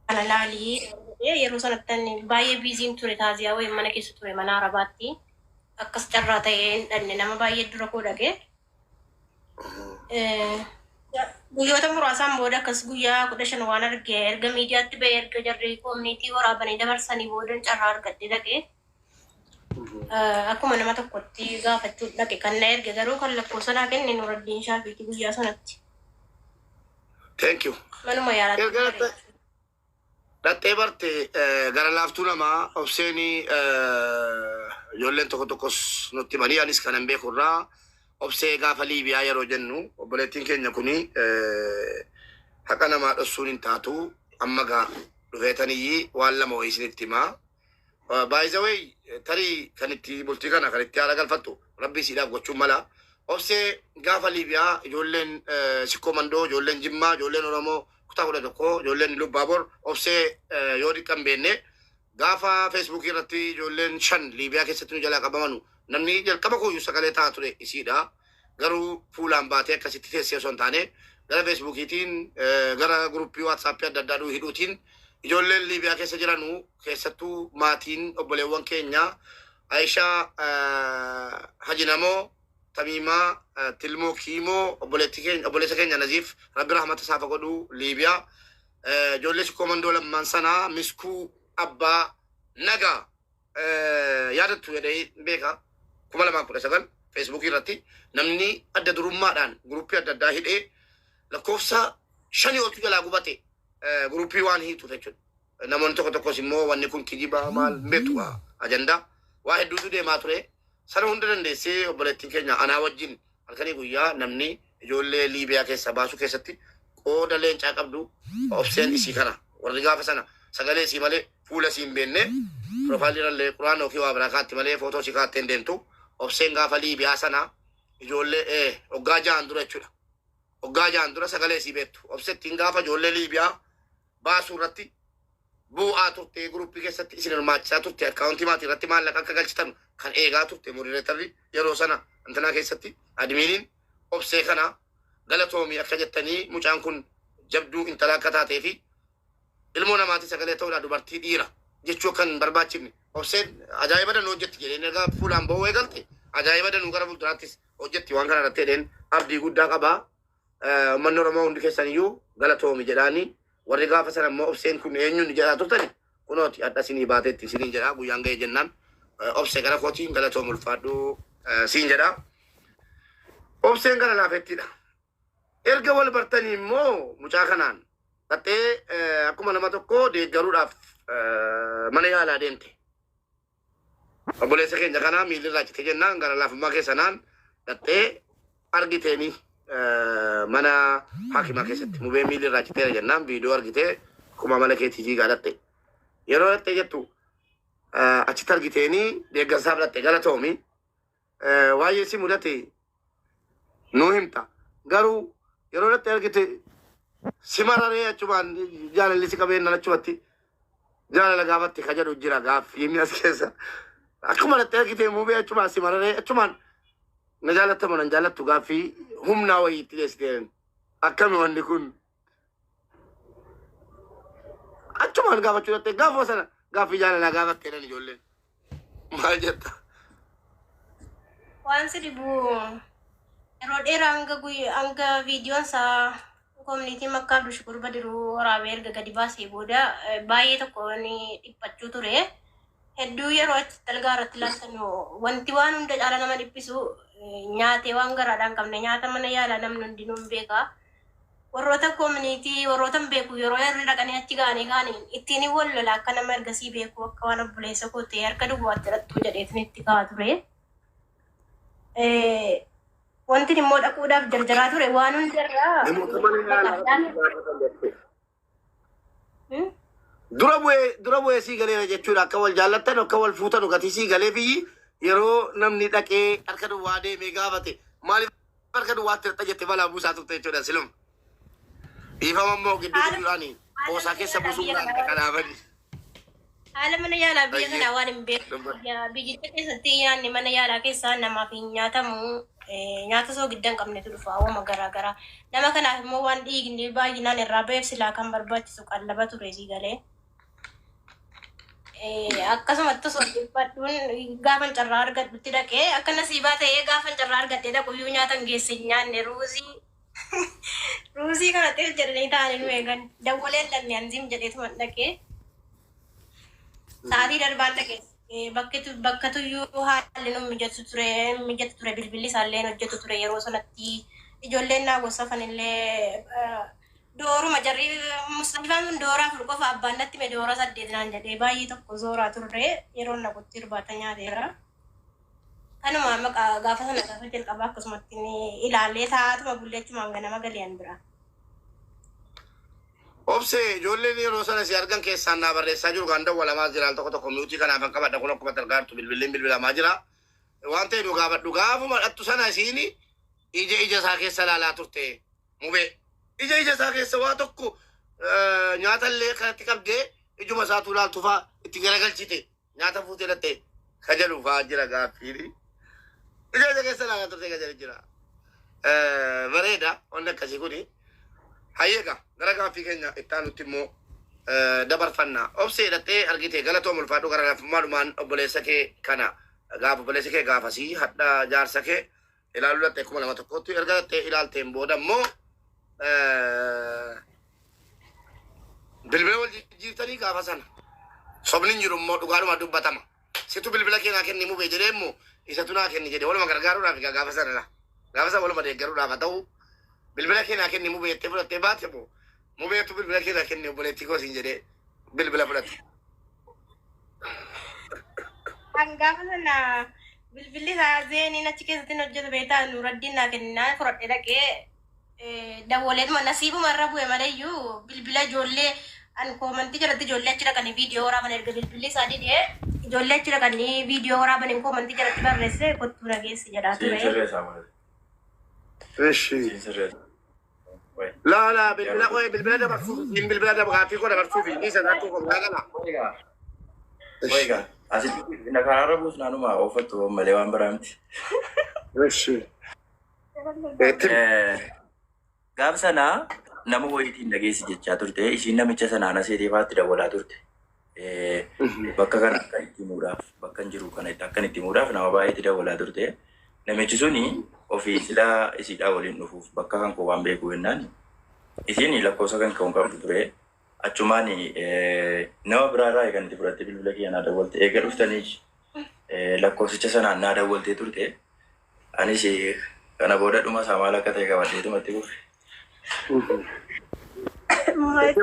kana laali naan jedhee yeroo sanatti ani baay'ee biiziin ture taaziyaa wayiin mana keessa ture mana arabaatti akkas carraa ta'ee hin dhaqne nama baay'ee dura koo dhaqee Eh, guyyoota muraasaan booda akkas guyyaa kudha shan waan arge erga miidiyaatti ba'e erga jarri koominiitii waraabanii dabarsanii boodan carraa argadhe dhaqe Akkuma nama tokkotti gaafachuu dhaqe kan na erge garuu kan lakkoofsa naa kenne Nuraddiin Shaafiitii guyyaa sanatti. Thank you. Manuma yaalaatti Erga ture. latte- Dhaxxee barte eh, gara laaftuu namaa obseenii eh, ijoolleen tokko tokkos nutti himanii anis kanan beeku irraa obsee gaafa Liibiyaa yeroo jennu obboleettiin keenya kuni eh, haqa namaa dhossuun hin taatu amma gaa dhufeetaniyyii waan lama wayii isinitti himaa By the way, tarii kan itti bultii kana kan itti haala galfattu rabbii siidhaaf gochuun mala. Obsee gaafa Liibiyaa ijoolleen eh, Sikkoo Mandoo, ijoolleen Jimmaa, ijoolleen Oromoo kutaa kudha tokko, ijoolleen Ilubbaabor, Obsee eh, yoo xiqqaa hin beekne gaafa Feesbuukii irratti ijoolleen shan Liibiyaa keessatti nu jalaa qabamanu namni jalqaba kooyyuu sagalee ta'aa ture isiidha. Garuu fuulaan baatee akkasitti teessee osoo hin taane gara Feesbuukiitiin, gara guruppii Waatsaappii adda addaa nuu hidhuutiin ijoolleen Liibiyaa keessa jiranu keessattuu maatiin obboleewwan keenya Ayishaa Haji Namoo, Tamiimaa, Tilmoo Kiimoo, obboleettii keenya obboleessa keenya Naziif Rabbi rahmata isaaf haa godhu Liibiyaa ijoollee sikkoo mandoo lammaan sanaa miskuu abbaa nagaa. yaadattu jedhee beeka kuma lamaa kudha sagal feesbuukii irratti namni adda durummaadhaan guruppii adda addaa hidhee lakkoofsa shanii oltu jalaa gubate guruppii waan hiituuf jechuudha. Namoonni tokko tokkos immoo wanni kun kijibaa maal beetu ajandaa waa hedduutu deemaa ture. Sana hunda dandeessee obboleettiin keenya anaa wajjin Halkanii guyyaa namni ijoollee Liibiyaa keessaa baasuu keessatti qooda leencaa qabdu Obseen isii kana. Warri gaafa sana sagalee isii malee fuula isii hin beenne, profile irrallee Qur'aana yookiin waa biraa kaatti malee footoo isii kaattee hin deemtu. Obseen gaafa Liibiyaa sana ijoollee ee waggaa jahan dura jechuudha. Waggaa jahan dura sagalee isii beektu. Obsettiin gaafa ijoollee Liibiyaa baasuu irratti buu'aa turte group keessatti isin hirmaachisaa turte account maatii irratti maallaqa akka galchitanu kan eegaa turte moderatorri yeroo sana intanaa keessatti admiiniin obsee kana galatoomii akka jettanii mucaan kun jabduu intala akka taatee fi ilmoo namaatii sagalee ta'uudha dubartii dhiira jechuu akka hin barbaachifne obseen ajaa'iba danuu hojjetti jedheen erga fuulaan ba'uu eegalte ajaa'iba danuu gara fuulduraattis hojjetti waan kana irratti jedheen abdii guddaa qabaa Uummanni Oromoo hundi keessan iyyuu galatoomi jedhaani. Warri gaafa sana immoo obseen kun eenyuun jedhaa turtani kunooti hadha sinii baateetti isiniin jedhaa guyyaan ga'ee jennaan obse gara kootiin galatoom ulfaadhuu siin jedhaa. Obseen gara laafettiidha. Erga wal bartanii immoo mucaa kanaan dhaxxee akkuma nama tokko deeggaruudhaaf mana yaalaa deemte. Obboleessa keenya kanaa miilli irraa cite jennaan gara laafummaa keessanaan dhaxxee argiteeni mana hakimaa keessatti mubee miilli irraa citeera jennaan viidiyoo argitee akkuma amala keetii fiigaa dhaxxe. Yeroo dhaxxee jettu achitti argiteeni deeggarsaaf dhaxxe galatoomi. eh, waa'ee si mudate nuu himta. Garuu yeroo irratti argite si mararee achumaan jaalalli si qabeennan achumatti jaalala gaafatti ka jedhu jira gaaffii inni as keessa. Akkuma irratti argite muubee achumaan si mararee achumaan na jaalattamu nan jaalattu gaaffii humnaa wayii itti dhiyeessiteen akkami wanni kun. Achumaan gaafachuu dhatte gaafuma sana gaaffii jaalalaa gaafatte jedhan ijoolleen. Maal jetta? Waan si dhibu yeroo dheeraa hanga guyyaa hanga viidiyoon isaa koominiitii makkaa Abdul Shukuur Badiruu waraabee erga gadi baasee booda eh, baay'ee tokko ni dhiphachuu ture. Hedduu yeroo achi dalgaa irratti ilaaltan wanti waan hunda caala nama dhiphisu eh, nyaatee waan garaadhaan qabne nyaata mana yaalaa namni hundinuu hin beeka. Warroota community warrootan beeku yeroo irra dhaqanii achi ga'anii kaani ittiin hin wal lola akka nama ergasii beeku akka waan obboleessa koo ta'e harka duwwaatti hidhattuu jedheetin itti ka'a ture. Eh, Wantin immoo dhaquudhaaf jarjaraa ture waan hundarraa Namoota mana yaalaa baqadhaan gaafatan jechuudha. dura bu'ee dura bu'ee sii galeera jechuudha akka wal jaallattan akka wal fuutan gatii sii galee biyyi yeroo namni dhaqee harka duwwaa deemee gaafate maaliif harka duwwaatti hirta jette balaa buusaa turte jechuudha silum dhiifama immoo gidduu Haala- giddudhaani qoosaa keessa buusuudhaan dhaqanaafani. Haala mana yaalaa biyya Ayyee. kanaa waan hin beeku. Dubba- Biyya- Biyyicha keessatti nyaanni mana yaalaa keessaa namaaf hin nyaatamu. Eh, Nyaata soogidda hin qabnetu dhufa hawwama garaa garaa. Nama kanaaf immoo waan dhiigni baay'inaan irraa ba'eef silaa kan barbaachisu qallaba ture sii galee. Eh, Akkasumatti osoo dhiphadhuun gaafan carraa argadhutti dhaqee akka nasiibaa ta'ee gaafan carraa argadhee dhaqu iyyuu nyaata hin geesse hin nyaanne ruuzii Ruuzii kana xiil jedhanii taa'anii nu eegan. Dawwalee dhalli anziim jedheetuma dhaqee. Sa'aatii darbaan dhaqee bakka tuyyuu haalli nu mijatu ture mijatu ture bilbilli isaallee hojjetu ture yeroo sanatti ijoolleen naa gorsafan illee dooruma jarri musxalifaan kun doora afur qofa abbaan natti me doora saddeet naan jedhee baay'ee tokko zooraa turre yeroo naqutti irbaata nyaateera. Kanuma maqa gaafa sana gaafa jalqabaa akkasumatti ni ilaalee taa'aatuma bullee achumaan ganama gali'an bira. Obsee ijoolleen yeroo sana si argan keessaan naa barreessaa jiru kan dawwalamaa jira al tokko tokko miutii kanaaf kan qabadha kun akkuma targaartu bilbilliin bilbilamaa jira. Waan ta'e nu gaafadhu gaafuma dhattu sana isiin ija ija isaa keessa laalaa turte mubee. Ija ija isaa keessa waa tokko eh, nyaata illee kanatti qabdee ijuma isaa tuulaaltu faa itti garagalchite. Nyaata fuutee lattee ka jedhu fa'aa jira gaaffiini. Ija isa keessa ilaalaa turtee ka jedhu jira. Eh, Bareeda wanni akkasii kuni. Hayyeega gara gaaffii keenya itti aanutti immoo eh, dabarfanna. Obsee dhattee argite galatoom ulfaadhu gara lafummaa dhumaan obboleessa kee kana gaafa obboleessi kee gaafasii hadha jaarsa kee ilaaluu dhaxxee kuma lama tokkotti erga dhaxxee ilaalteen booda immoo bilbila wal jijjiirtanii gaafa sana sobni hin jiru immoo dhugaadhuma dubbatama situ bilbila kee naa kenni mubee jedhee immoo isatu naa kenni jedhee waluma gargaaruudhaaf egaa gaafa sana gaafa sana waluma deeggaruudhaaf haa ta'u bilbila kee naa kenni mubee jettee fudhattee baate immoo Mubeetu bilbila kee naa kenni obboleettii koo siin jedhee bilbila fudhate. Kan gaafa sana bilbilli isaa zeeniin achi keessatti hin hojjetu beektaa nuuraddiin naa kenninaan fudhadhee dhaqee eh, dawwaleetuma nasiibuma irra bu'e malee iyyuu bilbila ijoollee an koomantii jalatti ijoollee achi dhaqanii viidiyoo waraaban erga bilbilli isaa didee ijoollee achi dhaqanii viidiyoo waraaban hin koomantii jalatti barreesse kottuu nageessi jedhaa ture. Siin sirreessaa malee. Eshi. Siin sirreessaa. Laa laa bilbila qo'ee bilbila dabarsuuf hin bilbila dabarsuuf gaaffii koo dabarsuuf hin dhiisan rakkoo koo biraa galaa. Egaa egaa asitti na karaarra buus naanuma ooffattu malee waan biraa miti. Eshi. Etti. Gaaf sanaa nama wayiitiin dhageessi jechaa turte ishiin namicha sanaa na seeteefaatti dawwalaa turte. bakka kana akka itti himuudhaaf bakkan jiru kana akkan itti himuudhaaf nama baay'eetti dawwalaa turte. Namichi suni ofii silaa isiidhaa waliin dhufuuf bakka kan koo waan beeku jennaan isiin lakkoofsa kan ka'uun qabdu ture. Achumaan nama biraa irraa kan itti fudhattee bilbila kiyya naa dawwalte eega dhuftanii lakkoofsicha sanaan naa dawwaltee turte. Anis kana booda dhuma isaa maal akka ta'e qabadheetuma itti fufe. Maal itti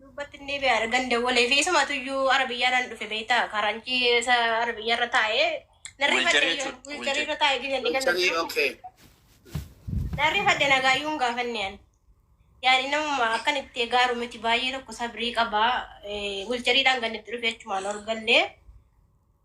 Duubbatti hin deebi'aa ergan dawwalee fi isumatu iyyuu ara biyyaa nan dhufe beektaa karanchii isa ara biyyaa irra taa'ee nan rifadhe Wilcharii iyyuu jechuudha, wiilcharii wilcharii. irra taa'ee gizeen dhigan Wilcharii, okay. nan rifadhe nagaayyuu hin gaafanne ani. Yaani namuma akkan itti gaaru miti baay'ee tokko sabrii qaba wilchariidhaan gannitti dhufe jechumaan ol gallee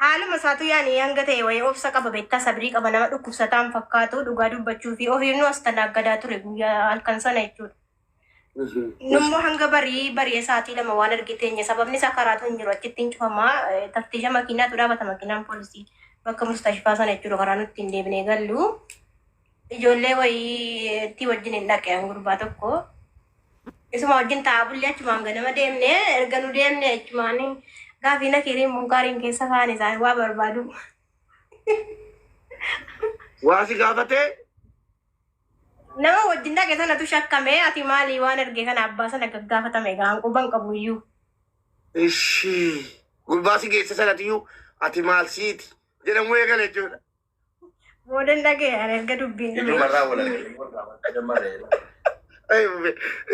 Haaluma isaatu yaani hanga ta'e wayii obsa qaba beektaa sabrii qaba nama dhukkubsataa hin fakkaatu dhugaa dubbachuu fi ofii nu as talaaggadaa ture guyyaa halkan sana jechuudha. Nummoo hanga barii bari'ee sa'aatii lama waan argee teenye sababni isaa karaatu hin jiru achitti hin cufamaa eh, taftiisha makiinaatu dhaabata makiinaan poolisii bakka mustashfaa sana jechuudha karaa nutti hin deebinee gallu. Ijoollee wayiitti wajjin hin dhaqe an gurbaa tokko. Isuma wajjin taa'aa bullee achumaan ganama deemne erga nu deemne achumaan gaafii na keeriin munkaariin keessa kaan isaan waa barbaadu. Waa si gaafatee Nama wajjin dhaqe sanatu shakkame ati maali waan erge kana abbaa sana gaggaafatame egaa hanquban qabu iyyuu. ishii gurbaa si geesse sanatiyyuu ati maal siiti jedhamuu eegale jechuudha. Boodan dhaga'e ani erga dubbiin dhume. Ijumarraa wal argee wal gaafadha dammaa ta'e. Ay, mube.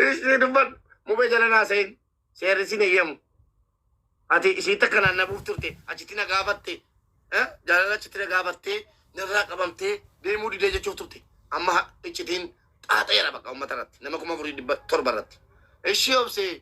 Isni dubban. Mube jala naa sa'in. Seerri sin eeyyamu. Ati isii takka naannabuuf turte. Achitti na gaafatte. Eh? Jaalala achitti na gaafattee narraa qabamtee deemuu didee jechuuf turte. Amma ha- iccitiin xaaxeera bakka uummata irratti. Nama kuma afurii dhibba torba irratti. Ishii obsee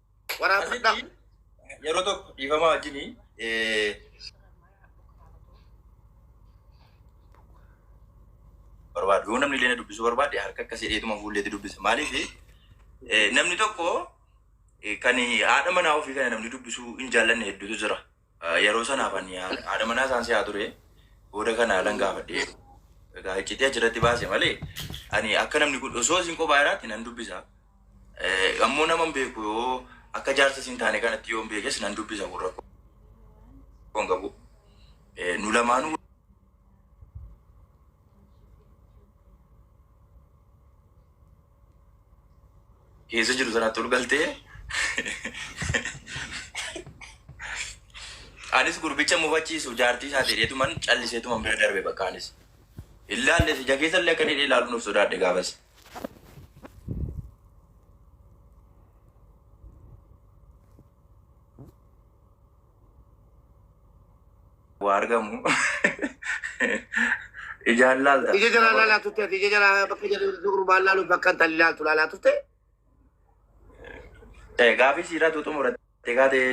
Waraabadha. Asitti yeroo tokko dhiifamaa wajjini barbaadu. Yoo namni illee na dubbisuu barbaade harka akkasii dheetuma fuulleetti dubbisa. Maaliif namni tokko eh, kan haadha manaa ofii kana namni dubbisuu hin jaallanne hedduutu jira. Yeroo sanaaf ani haadha manaa isaan si'aa ture. Booda kana haalan gaafadhee egaa iccitii achirratti baase malee ani akka namni kun osoo isin kophaa jiraatti nan dubbisa. Eh, Ammoo naman beeku yoo akka jaarsa isin taane kanatti yoon beekes nan dubbisa kun rakkoo hin qabu. Eh, Nu lamaanuu keessa jiru sanaatti ol galtee anis gurbicha mufachiisu jaartii isaa dheedeetuman calliseetuman bira darbe bakka anis illaallee ija keessa illee akka dheedee ilaaluun of sodaadhe gaafas. waa argamu ijaan laalta. Ija jalaa laalaa turte ati ija jalaa bakka jalaa gurbaan laaluuf bakka intalli laaltu laalaa turte. Eh, Gaafii siiraa tuutu muratte kaatee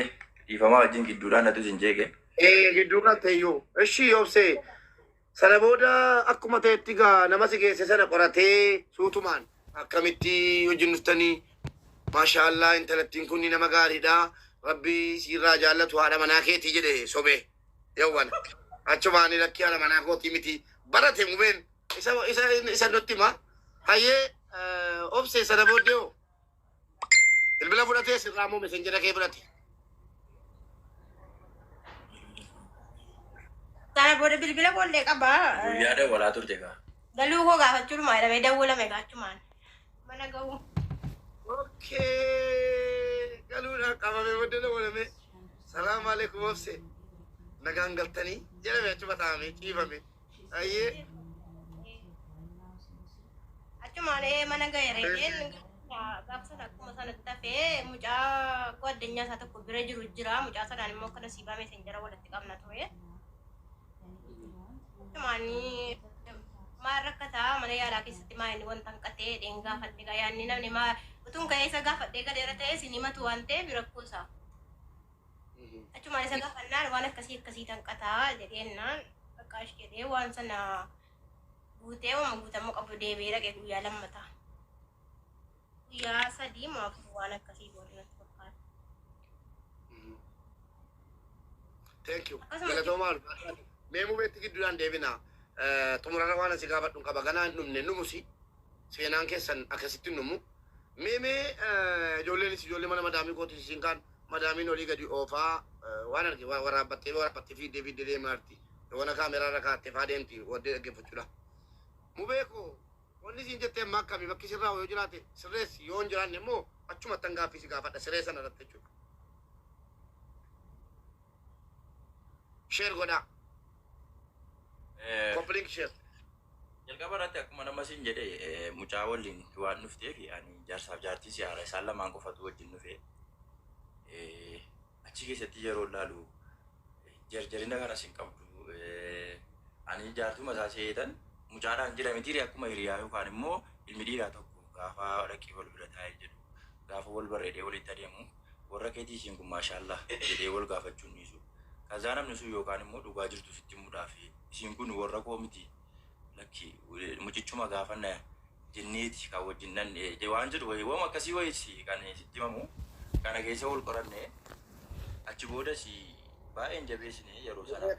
dhiifamaa wajjin gidduudhaan natu isin jeeqe. Eh, gidduu kan ta'eyyuu. Ishii yoobsee Sana booda akkuma ta'etti egaa nama si geesse sana qoratee suutumaan akkamitti wajjin dhuftanii maashaa Allah intalattiin kun nama gaariidha rabbi siirraa jaallatu haadha manaa keetii jedhe sobee yawwan achumaan lakkii haadha manaa kootii miti barate mubeen isa isa isa nutti hima hayyee eh, obse sana booddee hoo Bilbila fudhatee sirraa moo messenjera kee fudhate? Sana booda bilbila boollee qaba. Guyyaa dawwalaa turte kaa. Galuu koo gaafachuudhuma jedhamee dawwalame gaachumaan. Mana ga'uu. Okay. Galuudhaan qabamee booddee dawwalamee. Salaam alaikum obse. Nagaan galtanii jedhame achuma taa'amee ciifame. Ayyee. Achumaan ee mana ga'eera jeen gaafsan akkuma sanatti hafee mucaa koo addunyaa isaa tokko bira jiru jira mucaa sanaan immoo akka nasiibaa meesenjara walitti qabna ture. Achumaan maal rakkataa mana yaalaa keessatti maa inni wanta hanqatee dheen gaafadhe gaa yaanni namni maa utuun ka'ee isa gaafadhee galeera ta'ee isin himatu waan ta'eef rakkoo isaa. Achumaan isa gaafannaan waan akkasii akkasii tanqataa jedheennaan qaqqaash jedhee waan sana guutee waan guutamuu qabu deebi'ee dhaqee guyyaa lammataa. Guyyaa sadii moo afur waan akkasii goone natti fakkaata. Thank you. Akkasuma- Galatoomaa ulfaadhaan. Mee mubeetti gidduudhaan deebina. Eh, Xumurarra waan asi gaafadhu qaba. Ganaa hin dhumne numusi. Seenaan keessan akkasitti numu. Mee mee eh, ijoolleen ijoollee mana madaamii kootu isin kaan Madaamiin olii gadi oofaa waan arge waraabbattee waraabbattee fiiddee fiiddee deemaarti. Yoona kaameraa irra kaattee faa deemti waddee dhaggeeffachuudha. Mubee koo wanni siin jette amma akkami bakki sirraa yoo jiraate sirreessi yoo hin jiraanne immoo achumattan gaaffii si gaafadha siree sana irratti jechuudha. Sheer godhaa. Eh, Copy link share. Jalqaba irratti akkuma nama siin jedhe eh, mucaa waliin waan dhufteef ani jaarsaaf jaartii si haara isaan lamaan qofatu wajjin dhufe. Eh, Achi keessatti yeroo ilaalu eh, jarjarina kanas hin qabdu. Eh, Ani jaartuma isaa seetan mucaadhaan jira mitiiri akkuma hiriyaa yookaan immoo ilmi dhiiraa tokko gaafa dhaqee wal bira taa'ee jedhu gaafa wal barreedee walitti adeemu warra keetii isiin kun maashaallaah jedhee wal gaafachuun dhiisu kazaa namni sun yookaan immoo dhugaa jirtu sitti himuudhaaf isiin kun warra koo miti lakki mucichuma gaafanna jenneeti kan wajjin dhandhe waan jedhu wayii wama akkasii wayiiti kan sitti himamu kana keessa wal qoranne achi boodas baay'een jabeessine yeroo sanaaf